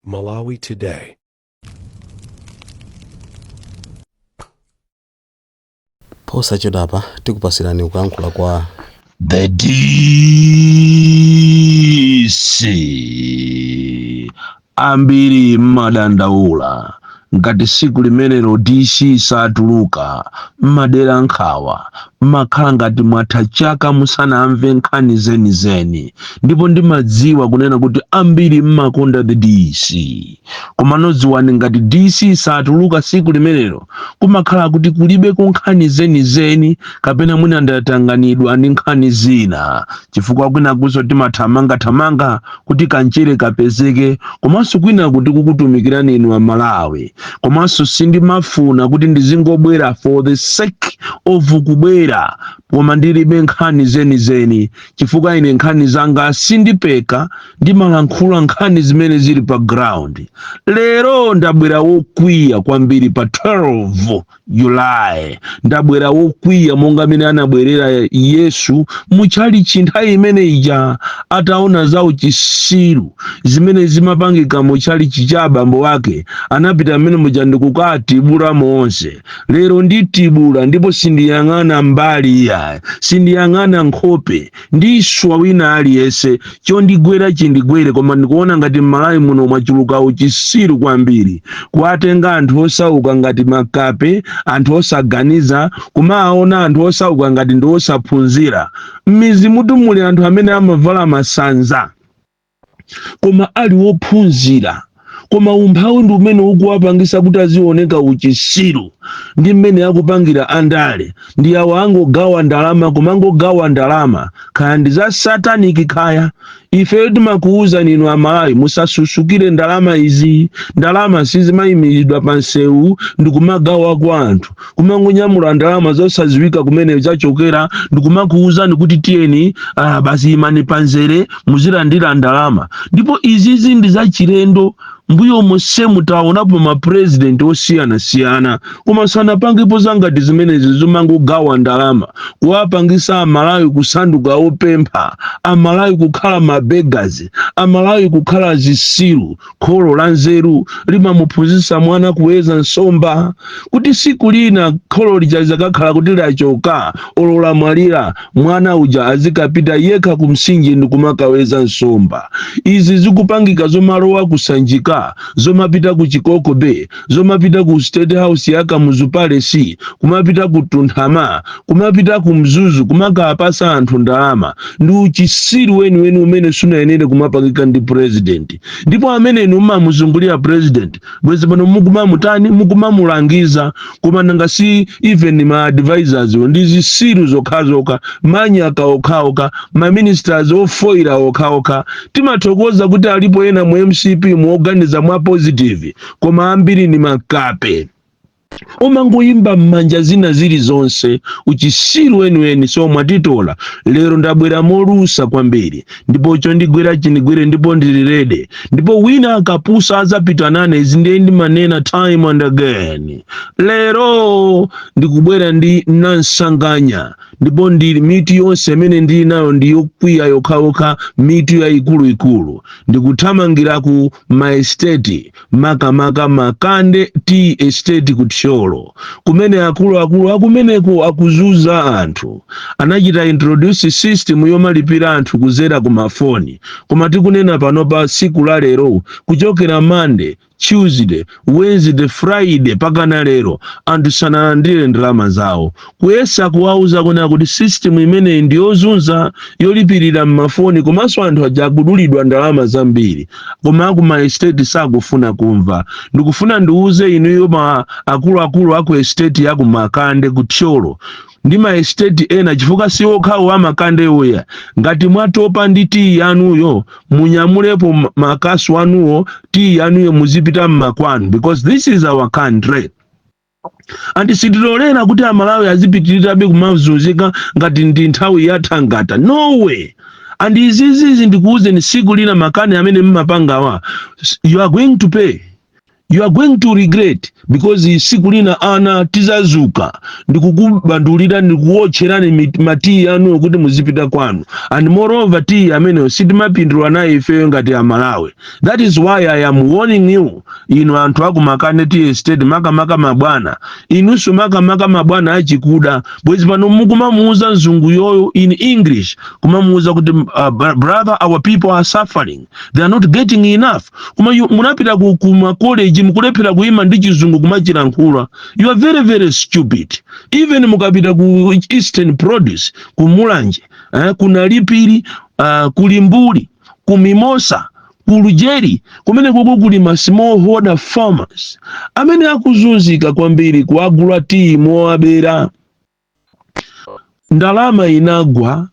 Malawi Today. posachedwapa tikupasirani kuyankhula kwa The DC ambiri mmadandaula Ngati tsiku limenelo DC satuluka, m'madela nkhawa, m'makhala ngati mwatha chaka musanamve nkhani zeni zeni, ndipo ndimadziwa kunena kuti ambiri m'makonda the DC. Komano dziwani ngati DC satuluka tsiku limenelo, kumakhala kuti kulibe nkhani zeni zeni kapena mwina ndatanganidwa ndi nkhani zina, chifukwa kwinakunso timathamanga thamanga kuti kamchere kapezeke komanso kwinaku tikukutumikirani inu amalawi komanso sindimafuna kuti ndizingobwera for the sake of kubwera koma ndilibe nkhani zenizeni chifukwa ine nkhani zanga sindipeka ndimalankhula nkhani zimene zili pa ground lero ndabwera wokwiya kwambiri pa 12 julayi ndabwera wokwiya monga mmene anabwerera yesu mutchalichi nthawi imene ija ataona za uchisiru zimene zimapangika mu tchalichi cha abambo wake anapita mmene muja ndikukatibula monse lero nditibula ndipo sindiyang'ana mbali iyayi sindiyang'ana nkhope ndiswa wina aliyese chondigwera chindigwere koma ndikuona ngati mmalawi muno mwachuluka uchisiru kwambiri kuwatenga anthu osauka ngati makape anthu osaganiza kumaona anthu osauka ngati ndi osaphunzira mmizi mutu muli anthu amene amavala masanza koma ali wophunzira koma umphawi ndi umene ukuwapangisa kuti azioneka uchisiru ndi mmene akupangira andale ndi awo angogawa ndalama kumangogawa ndalama kaya ndi za sataniki kaya ife timakuwuzani inu amalawi musasusukire ndalama izi ndalama sizimayimiridwa pa msewu ndi kumagawa kwa anthu kumangonyamula ndalama zosadziwika kumene zachokera ndikumakuwuzani kuti tiyeni ah, basi imani panzere muzilandira ndalama ndipo izizi ndi zachilendo mbuyo monsemu taonapo mapurezidenti osiyanasiyana koma sanapangepo zangati zimenezi zomangogawa ndalama kuwapangisa amalawi kusanduka opempha amalawi kukhala mabegazi amalawi kukhala zisilu Kholo la nzeru limamuphunzitsa mwana kuweza nsomba kuti siku lina kholo lija lizakakhala kuti lachoka olo lamwalira mwana uja azikapita yekha ku msinje ndi kumakaweza nsomba izi zikupangika zomalowa kusanjika zomapita ku Chikoko Bay zomapita ku state house ya kamuzu palace kumapita ku tunthama kumapita ku mzuzu kumakapasa anthu ndalama ndi uchisiru weniweni umene sunayenere kumapangika ndi president ndipo amene inu mumamuzungulira president bwezi pano mukumamutani mukumamulangiza koma nanga si even ma advisors ndi zisiru zokhazokha manyaka okhaokha ma ministers ofoira okhaokha timathokoza kuti alipo ena mu mcp mu oganiza mwa positive koma ambiri ni makape omangoyimba m'manja zina zili zonse uchisiru weniweni so mwatitola lero ndabwera molusa kwambiri ndipo chondigwera chindigwere ndipo ndilirede ndipo wina akapusa azapita nane izi ndiye ndimanena time and again lero ndikubwera ndi nansanganya ndipo ndili mitu yonse imene ndili nayo ndi yokwiya yokhayokha mitu yayikuluikulu ndikuthamangira ku ma estate makamaka makande tea estate ku thyolo kumene akuluakulu akumeneko akuzuza anthu anachita introduce system yomalipira anthu kuzera ku mafoni koma tikunena panopa siku la lero kuchokera mande tuesday Wednesday, Friday pakana lero anthu sanalandire ndalama zawo. Kuyesa kuwauza kunena kuti system imeneyi ndi yozunza yolipirira m'mafoni komanso anthu aja akudulidwa ndalama zambiri. Koma aku ma estate sakufuna kumva. Ndikufuna ndiwuze inuyo akuluakulu aku estate ya ku Makande ku Thyolo ndi ma estate ena chifukwa si okhawo a makandewo aya ngati mwatopa ndi tiyi yanuyo munyamulepo ma- makasu anuwo tiyi yanuyo muzipita mmakwanu because this is our country and sitilolera kuti amalawi azipitirirabe kumazunzika ngati ndi nthawi yathangata no way and izizizi ndikuwuzeni siku lina makani amene mmapangawa you are going to pay you are going to regret because siku lina anthu tizazuka ndikukuphwasulirani ndikuwotcherani mit- matiyi anuwa kuti muzipita kwanu and moreover tiyi ameneyo sitimapindula naye ifeyo ngati amalawi that is why i am warning you inu anthu aku makande tea estate makamaka mabwana inunso makamaka mabwana achikuda bwezi pano mukumamuuza mzunguyo in english kumamuuza kuti uh, brother our people are suffering they are not getting enough koma munapita ku, ku ma college mukulephera kuima ndi chizungu kumachilankhula you are very very stupid even mukapita ku eastern produce ku mulanje eh, ku nalipiri uh, ku limbuli ku mimosa ku lujeri kumenekoko kuli ma smallholder farmers amene akuzunzika kwambiri kuagula tiyi mowabera ndalama inagwa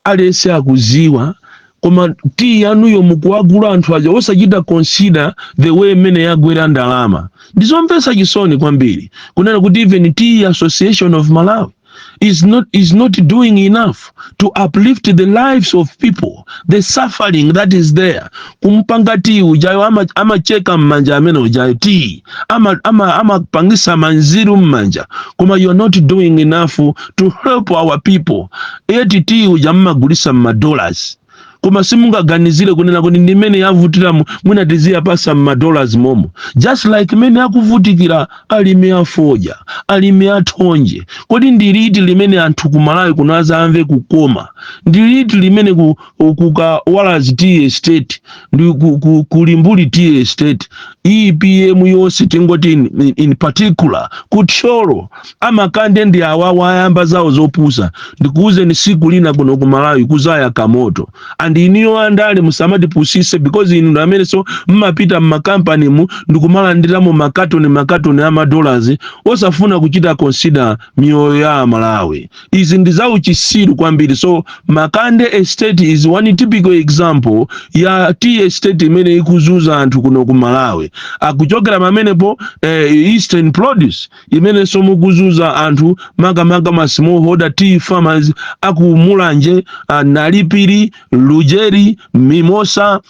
aliyense akuziwa koma tiyi yanuyo mukuwagulira anthu aja osachita consider the way mmene yagwera ndalama ndizomvetsa chisoni kwambiri kunena kuti even tea association of malawi is not, is not doing enough to uplift the lives of people the suffering that is there kumpanga ti ujayo ama- amacheka mmanja amene ujayo ti amapangisa ama, ama amapangisa manziru mmanja koma you are not doing enough to help our people eti ti uja mmagulisa mmadollars koma simungaganizire kunena kuti ndi mmene yavutira mwina tiziyapasa m'madollars momo just like mmene akuvutikira alimi afodya alimi athonje kodi ndi liti limene anthu ku malawi kuno azamve kukoma ndi liti limene ku, kukawalazi tea estate ndi ku, ku, kulimbuli tea estate epm yonse tingoti in, in, in particular kuthyolo amakande ndi awawa ayamba zawo zopusa ndikuwuzeni siku lina kuno ku malawi kuzayaka moto and inuyo andale musamatipusise because inu ndi amenenso mumapita mmakampanimu ndikumalandiramo makatoni makatoni amadollars osafuna kuchita consider miyoyo ya amalawi izi ndi zauchisiru kwambiri so makande estate is one typical example ya tea estate imene ikuzuza anthu kuno ku malawi akuchokera pamenepo eh, eastern produce imenenso mukuzuza anthu makamaka ma smallholder tea farmers aku mulanje ah, nalipiri lujeri mimosa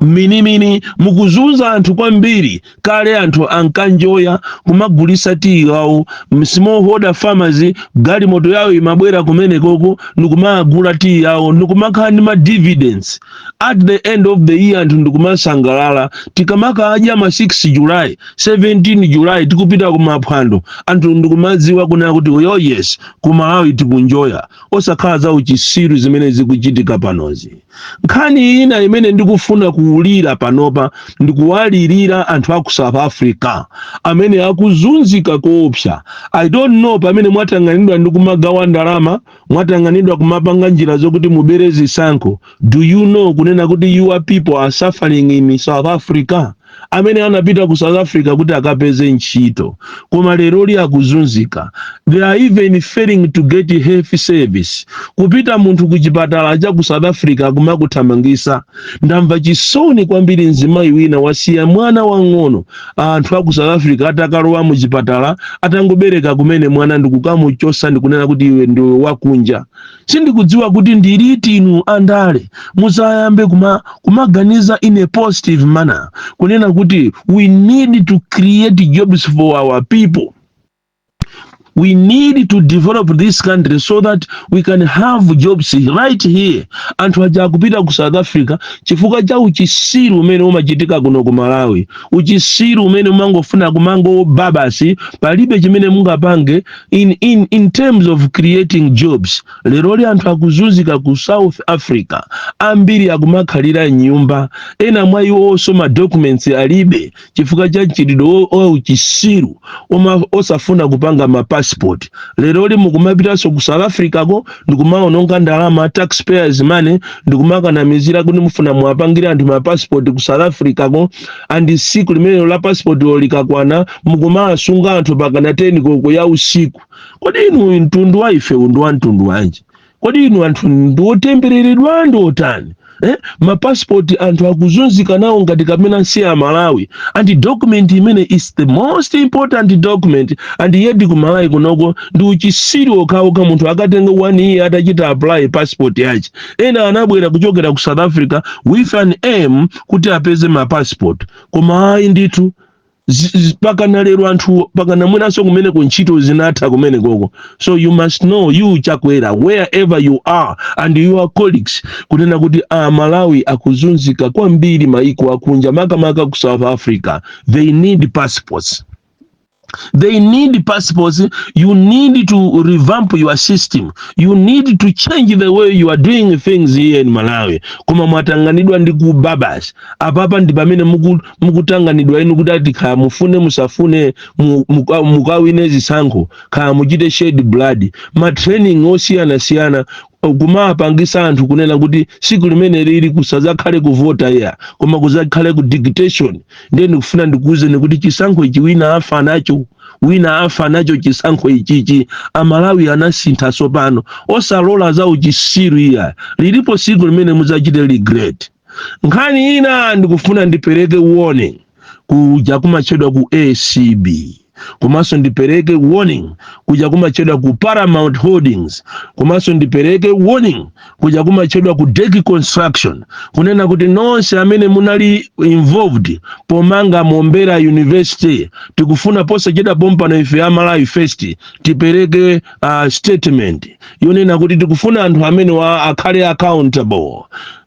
minimini mukuzuza anthu kwambiri kale anthu ankanjoya kumagulisa tiyi wawo smallholder farmers galimoto yawo imabwera kumenekoko nikumagula tiyi yawo nikumakhala ndi ma dividends at the end of the year anthu ndikumasangalala tikamaka aja ma 6 july 17 july tikupita kumaphwando anthu ndikumadziwa kunena kuti oh yes ku malawi tikunjoya osakhala za uchisiru zimene zikuchitika panozi nkhani ina imene ndikufuna kuulira panopa ndikuwalirira anthu a ku south africa amene akuzunzika koopsa i don't know pamene mwatanganidwa ndi kumagawa ndalama mwatanganidwa kumapanga njira zokuti mubere zisankho do you know kunena kuti your people are suffering in south africa amene anapita ku south africa kuti akapeze ntchito koma leroli akuzunzika they are even failing to get health service kupita munthu ku chipatala cha ku south africa kumakuthamangisa ndamva chisoni kwambiri mzimayi wina wasiya mwana wang'ono anthu aku south africa atakalowa mu chipatala atangobereka kumene mwana ndikukamuchosa ndikunena kuti iwe ndiwe wakunja sindikudziwa kuti ndiliti inu andale muzayambe kuma, kumaganiza in a positive manner kunena kuti we need to create jobs for our people we need to develop this country so that we can have jobs right here anthu aja akupita ku south africa chifukwa cha uchisiru umene umachitika kuno ku malawi uchisiru umene umangofuna kumangoba basi palibe chimene mungapange in, in, in terms of creating jobs leroli anthu akuzunzika ku south africa ambiri akumakhalira m'nyumba ena mwa iwonso ma documents alibe chifukwa cha mchitidwe wo- wa uchisiru osafuna kupanga ma passport lero li mukumapitanso ku south africa ko ndikumaononga ndalama taxpayers money ndikumakanamizira kuti mufuna muwapangire anthu ma passport ku south africa ko and siku limenelo la passport lo likakwana mukumawasunga anthu pakana 10 koko ya usiku kodi inu uyu mtundu wa ife ndi wa mtundu wanji kodi inu anthu ndi otembereredwa ndi otani eh? mapasipoti anthu akuzunzika nawo ngati kapena si amalawi and document imene is the most important document and yet kumalawi kunoko ndi uchisiru okhaokha munthu akatenga one year atachita apply passport yache ena anabwera kuchokera ku south africa with an aim kuti apeze mapassport koma ayi ndithu Z- z- pakana lero anthu pakana mwinanso kumene ku ntchito zinatha kumene koko so you must know you chakwera wherever you are and your colleagues kunena kuti a malawi akuzunzika kwambiri maiko akunja makamaka ku south africa they need passports they need passports you need to revamp your system you need to change the way you are doing things here in malawi koma mwatanganidwa ndi kuba basi apapa ndi pamene muku mukutanganidwa inu kuti ati kaya mufune musafune mu- muka- mukawine zisankho kaya muchite shed blood ma training osiyanasiyana kumapangisa anthu kunena kuti siku limene lili kusazakhale kuvota iya koma kuzakhale ku dictation ndiye ndikufuna ndikuwuzeni kuti chisankho ichi wina afa nacho wina afa nacho chisankho ichichi amalawi anasintha sopano osalola za uchisiru iya lilipo siku limene mudzachite regret nkhani ina ndikufuna ndipereke warning kuja kumatchedwa ku acb komanso ndipereke warning kuja kumatchedwa ku paramount holdings komanso ndipereke warning kuja kumatchedwa ku deki construction kunena kuti nonse amene munali involved pomanga mombera university tikufuna posachedwa pompano ife a malawi first tipereke uh, statement yonena kuti tikufuna anthu amene wa akhale accountable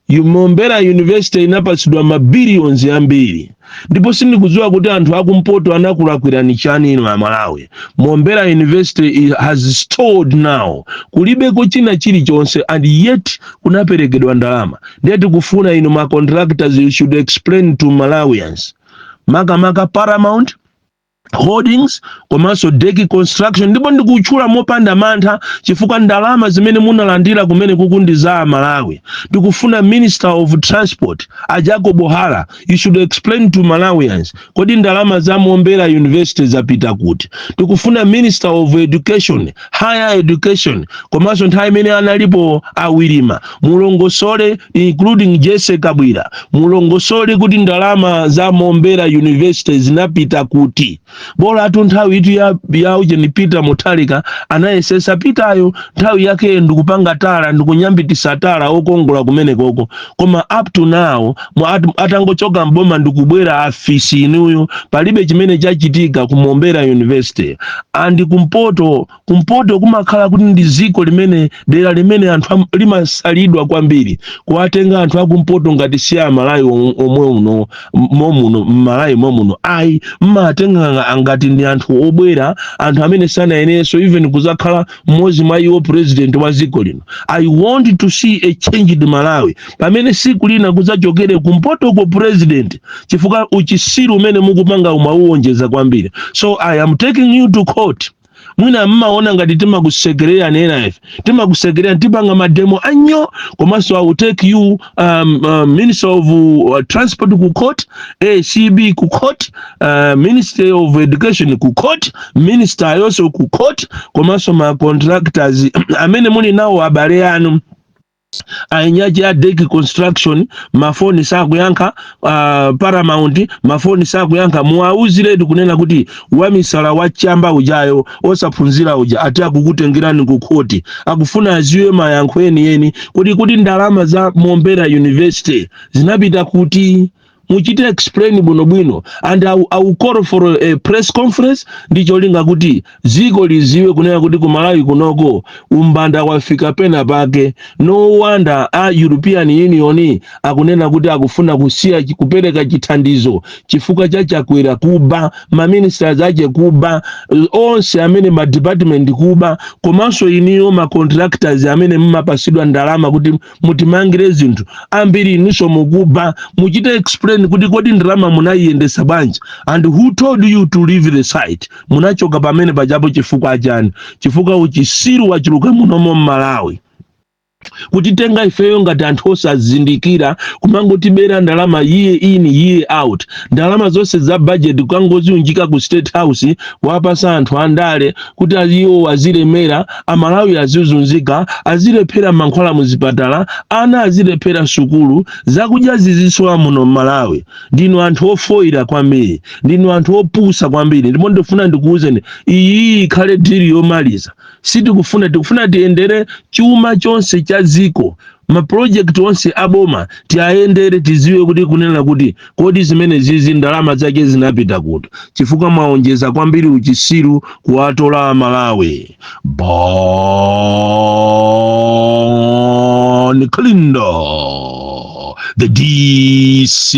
Mombera University inapatsidwa ma billions ambiri ndipo sindikudziwa kuti anthu akumpoto anakulakwirani chani inu a Malawi. Mombera University i- has stalled now. Kulibeko china chilichonse and yet kunaperekedwa ndalama. Ndiye tikufuna inu ma contractors you should explain to Malawians. Makamaka Paramount holdings komanso deki construction ndipo ndikutchula mopanda mantha chifukwa ndalama zimene munalandira kumene kukundiza amalawi tikufuna minister of transport a jacob hara you should explain to malawians kodi ndalama za mombera university zapita kuti tikufuna minister of education higher education komanso nthawi imene analipo awilima mulongosole including jesse kabwira mulongosole kuti ndalama za mombera university zinapita kuti bolatu nthawi itu ya, ya ujeni peter mutharika anayesesa peteryo nthawi yake ndikupanga tala ndikunyambitisa tala okongola kumenekoko koma up to now mu- at- atangochoka mboma ndikubwera afisi inuyo palibe chimene chachitika ku mombera university and kumpoto kumpoto kumakhala kuti ndi ziko limene dera limene anthu am- limasalidwa kwambiri kuwatenga anthu akumpoto ngati si amalawi om- omwe uno m- momuno mmalawi momuno ayi mmatenga ngati ndi anthu obwera anthu amene sanayeneso even kuzakhala mmodzi mwa iwo president wa ziko lino i want to see a changed malawi pamene siku lina kuzachokere kumpotoko president chifukwa uchisiru umene mukupanga umauwonjeza kwambiri so i am taking you to court mwina mmaona ngati timakusekerera nena ife timakusekerera tipanga mademo anyoo komanso i will take you um, um, minister of uh, transport ku court acb ku court uh, ministry of education ku court minister yonso ku court komanso ma contractors amene muli nawo abale anu ainyaji ya deki construction mafoni sakuyankha uh, paramount mafoni sakuyankha muwauziretu kunena kuti wamisala wachamba ujayo osaphunzira uja ati akukutengerani ku khoti akufuna aziwe mayankho enieni kodi kuti ndalama za mombera university zinapita kuti muchite explain bwinobwino and I, will- I will call for a press conference ndi cholinga kuti ziko liziwe kunena kuti ku malawi kunoko umbanda wafika pena pake no wonder a european union akunena kuti akufuna kusiya chi- kupereka chithandizo chifukwa cha chakwera kuba maministers ache kuba eh, onse amene madepartment kuba komanso inuyo macontractors amene mumapasidwa ndalama kuti mutimangire zinthu ambiri inunso mukuba muchite explain kuti kodi ndalama munayiyendesa bwanji and who told you to leave the site munachoka pamene pajapo chifukwa chani chifukwa uchisiru wachuluka munomo mmalawi kutitenga ifeyo ngati anthu osazindikira kumangotibera ndalama year in year out ndalama zonse za budget kukangoziunjika ku state house kuwapasa anthu andale kuti iwo azilemera amalawi azizunzika azilephera mankhwala muzipatala ana azilephera sukulu zakudya zizisowa muno mmalawi ndinu anthu ofoyira kwambiri ndinu anthu opusa kwambiri ndipo ndifuna ndikuwuzeni iyi ikhale dili yomaliza sitikufuna tikufuna tiyendere chuma chonse cha dziko ma project onse aboma tiayendere tiziwe kuti kunena kuti kodi zimene zizi ndalama zake zinapita kuti chifukwa mwaonjeza kwambiri uchisiru kuwatola amalawi Bon Kalindo the dc